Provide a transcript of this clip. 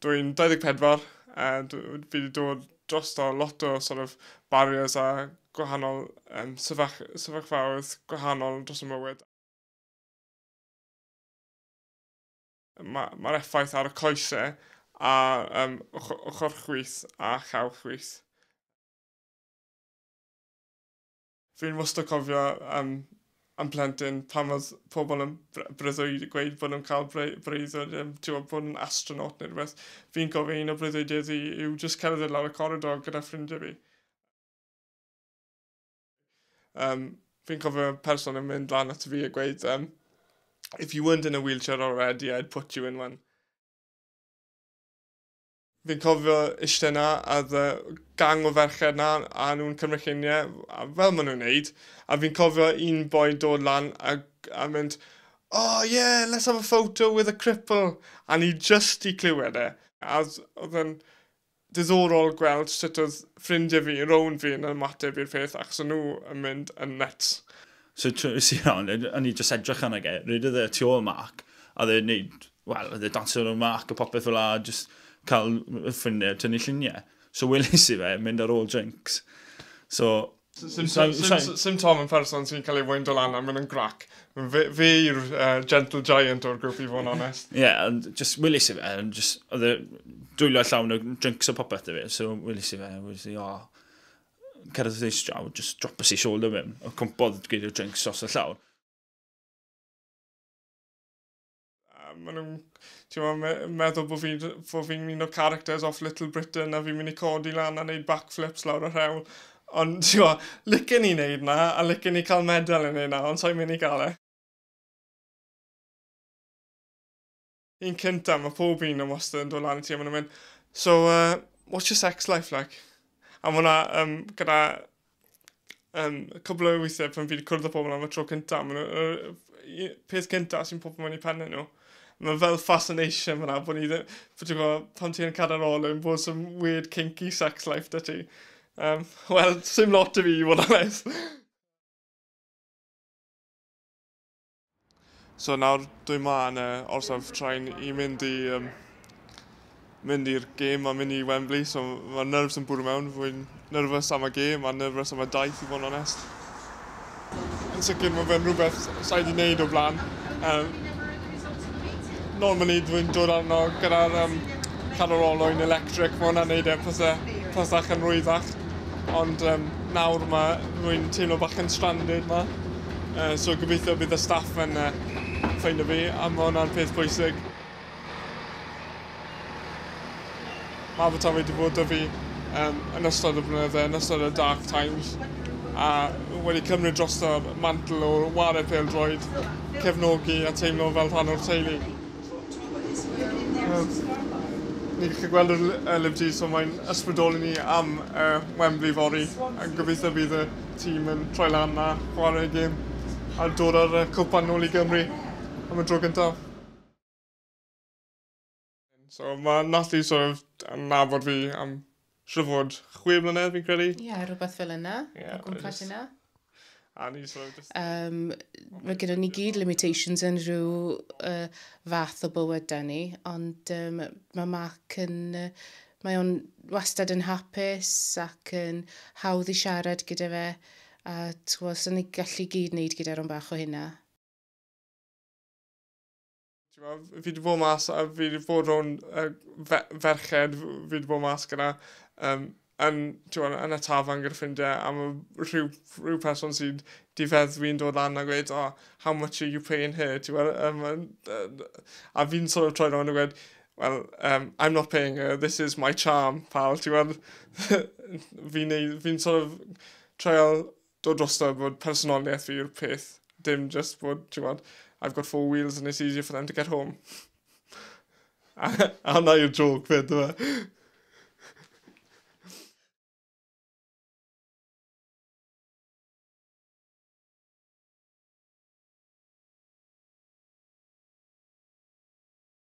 Dwi'n 24, a fi wedi dod dros o lot o sort of barriers a gwahanol um, sefyllfaoedd gwahanol dros y mywyd. Mae'r ma effaith ar y coesau a um, ochr chwith a chael chwith. Fi'n wastad cofio am am plentyn pan oedd pobl yn breuddwyd gweud bod nhw'n cael breuddwyd yn tiwa, bod yn astronaut neu rhywbeth. Fi'n cofio un o breuddwydiau ddi yw just cerdded lawr y coridor gyda ffrindiau fi. Um, fi'n cofio person yn mynd lan at fi a gweud, um, if you weren't in a wheelchair already, I'd put you in one. Fi'n cofio ishte 'na a oedd y gang o ferched 'na a o'n nhw'n cymryd llunie fel ma' nhw'n neud a fi'n cofio un boi'n dod lan a a mynd oh yeah let's have a photo with a cripple a ni jyst 'di clywed e a oedd oedd e'n diddorol gweld sut oedd ffrindie fi rownd fi yn ymateb i'r peth achos o'n nhw yn mynd yn nyts. So tries i rownd, o'n i just edrych arno ge, rydyd y tu ôl Mark, a dde wneud, wel, dde dansio ar Mark a popeth fel a, just cael ffrindiau tynnu lluniau. So welis i fe, mynd ar ôl drinks. So... Sim Tom yn person sy'n cael ei wyndo lan a mynd yn grac. Fe yw'r gentle giant o'r grwp i fod yn onest. Ie, ond just welis i fe, just, oedd e dwylio llawn o drinks a popeth da fe, so welis i fe, welis i, o, Cerdd y ddeis draw, just drop us i shoulder mewn. O cwmpodd gyda'r drinks os y llawr. maen nhw'n ti'n me meddwl bod fi'n fo fi un o characters off Little Britain a fi'n mynd i codi lan a wneud backflips lawr y rhewl. Ond ti'n mo, licen i wneud na, a licen i cael medal yn ei na, ond sa'n mynd i gael e. Un cynta, mae pob un yn wastad yn dod lan i ti a maen nhw'n mynd, so, uh, what's your sex life like? A mae hwnna um, gyda um, cwbl o weithiau pan fi wedi cwrdd â pobl am y tro cynta, maen nhw, uh, peth cynta sy'n popio mewn i penne nhw. Mae fel fascination fyna, bod ni ddim, bod ti'n gwybod, pan ti'n cael ar ôl yn bod some weird kinky sex life da ti. Um, Wel, sy'n lot i fi i fod yn nes. So nawr dwi ma yn y orsaf train i mynd i um, mynd i'r gêm a mynd i Wembley, so mae'r nerfs yn bwrw mewn. Fwy'n nerfus am y gêm a nerfus am y daith i fod yn onest. Yn sicr mae fe'n rhywbeth sa'i wedi wneud o blaen. Um, normally dwi'n dod arno gyda'r um, cadw'r olwyn electric, mae hwnna'n neud e'n pethau yn rwyddach. Ond um, nawr mae rwy'n teimlo bach yn stranded ma. Uh, so gobeithio bydd y staff yn uh, ffeindio fi, a mae hwnna'n peth pwysig. Mae fy tafod wedi bod o fi um, yn ystod y blynydde, yn ystod y dark times, a wedi cymryd drosto'r mantel o wario pêl droed, cefnogi a teimlo fel rhan o'r teulu. Um, ni'n gallu gweld y Liv G, so mae'n ysbrydoli ni am uh, Wembley fori, a gobeithio bydd y Ti'm yn troi lan na chware y gêm a dod â'r yy cwpan nôl i Gymru am y tro gyntaf. So ma' Natty sort of yn nabod fi am siŵr o fod chwe mlynedd fi'n credu. Ie rwbeth fel yna. Ie. O gwmpas hynna. A ni sort of jyst... Yym ma' gyda ni gyd limitations yn rhyw yy fath o bywyd 'da ni ond yym ma' Mark yn yy Mae o'n wastad yn hapus ac yn hawdd i siarad gyda fe a t'gwbo' os o'n ni gallu gyd neud gyda rwyn bach o hynna. T'mo' fi 'di bod mas a fi 'di bod rownd yy fe- ferched fi 'di bod mas gyda um, yn t'mo' yn y tafarn gyda ffrindie a ma' rhyw rhyw person sy'n difeddwi'n dod lan a gweud oh, how much are you paying here t'mo' yym a fi'n sort of troi rownd a gweud well, um, I'm not paying her, this is my charm, pal, ti'n gweld, fi'n fi sort of trial dod drosto bod personoliaeth fi yw'r peth, dim just bod, ti'n gweld, I've got four wheels and it's easier for them to get home. a hwnna yw'r joke fyd, dwi'n e?